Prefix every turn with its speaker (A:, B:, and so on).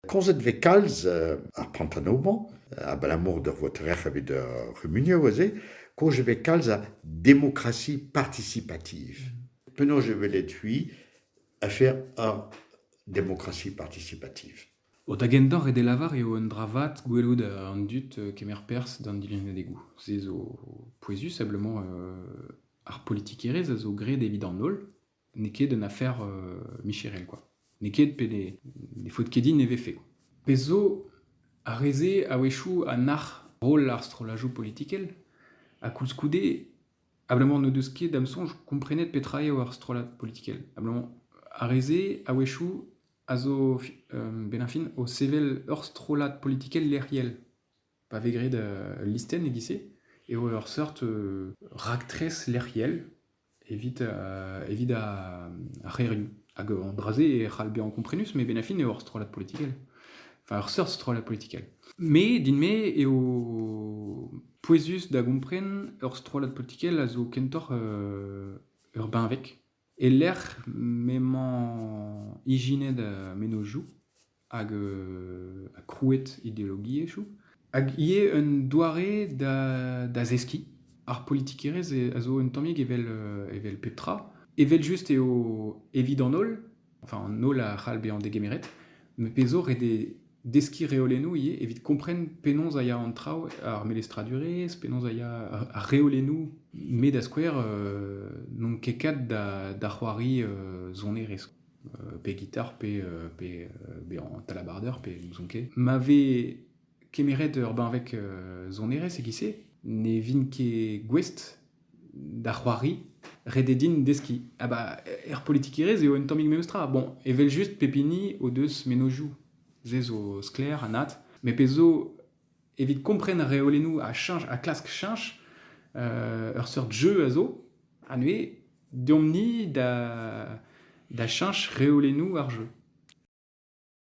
A: Komzet e vez kalz ar Pantano-mañ abalamour d'ur votere'h evit ar c'humunioù aze. Kozh e vez kalz a demokrasi partisipativ. Penaos e welet-c'hwi afer ar demokrasi partisipativ? O da gentoc'h eo da lavar eo un dra vat gwelout an dud kemer perzh d'an dilenngadegoù. Se zo pouezus, seblement ar politikerezh a zo graet evit an holl. N'eo ket un afer euh, micherel, quoi. N'eo ket pe ne, ne faot ket din e vefe, quoi. Pezh zo, ar re-se a-wechoù a nac'h roll ar strollajoù politikel, ha koulskoude, abalamour n'o deus ket, da'm soñj, komprenet petra eo ar strollad politikel. Abalamour, ar re-se, a-wechoù, a zo, fi- euh, benn ar fin, o sevel ur strollad politikel lec'hiel. Pa vez graet ul listenn e-giz-se eo ur seurt raktres lec'hiel evit evit ar c'hêrioù. Hag an dra-se e c'hall bezañ komprenus, met benn ar fin eo ur strollad politikel. Enfin, ur seurt strollad politikel. Me, din-me, eo pouezus da gompren ur strollad politikel a zo kentoc'h ur benveg. E-lec'h m'emañ ijinet mennozhioù hag krouet ideologiezhioù hag ivez un doare da zeskiñ. Ar politikerezh a zo un tammig evel pep tra. Evel-just eo evit an holl. enfin an holl a c'hall bezañ degemeret, met pezh zo ret eo deskiñ reolennoù ivez evit kompren penaos a ya an traoù, ar melestradurezh, penaos a ya ar reolennoù, met da skouer euh, n'on ket kat da, da c'hoari euh, sonerezh, euh, pe gitar, pe, euh, pe euh, bezañ talabarder, pe n'ouzon ket. Ma vez kemeret ur benveg euh, sonerezh e-giz-se, ne vin ket gouest da c'hoari, ret eo din deskiñ. Ha ba, er politikerezh eo un tammig memestra. Bon, evel-just, pep hini o deus mennozhioù. Se zo sklaer, anat. Met pezh zo, evit kompren reolennoù a cheñch, a klask cheñch, euh, ur seurt jeu a zo, ha neuze, deomp-ni da, da cheñch reolennoù ar jeu.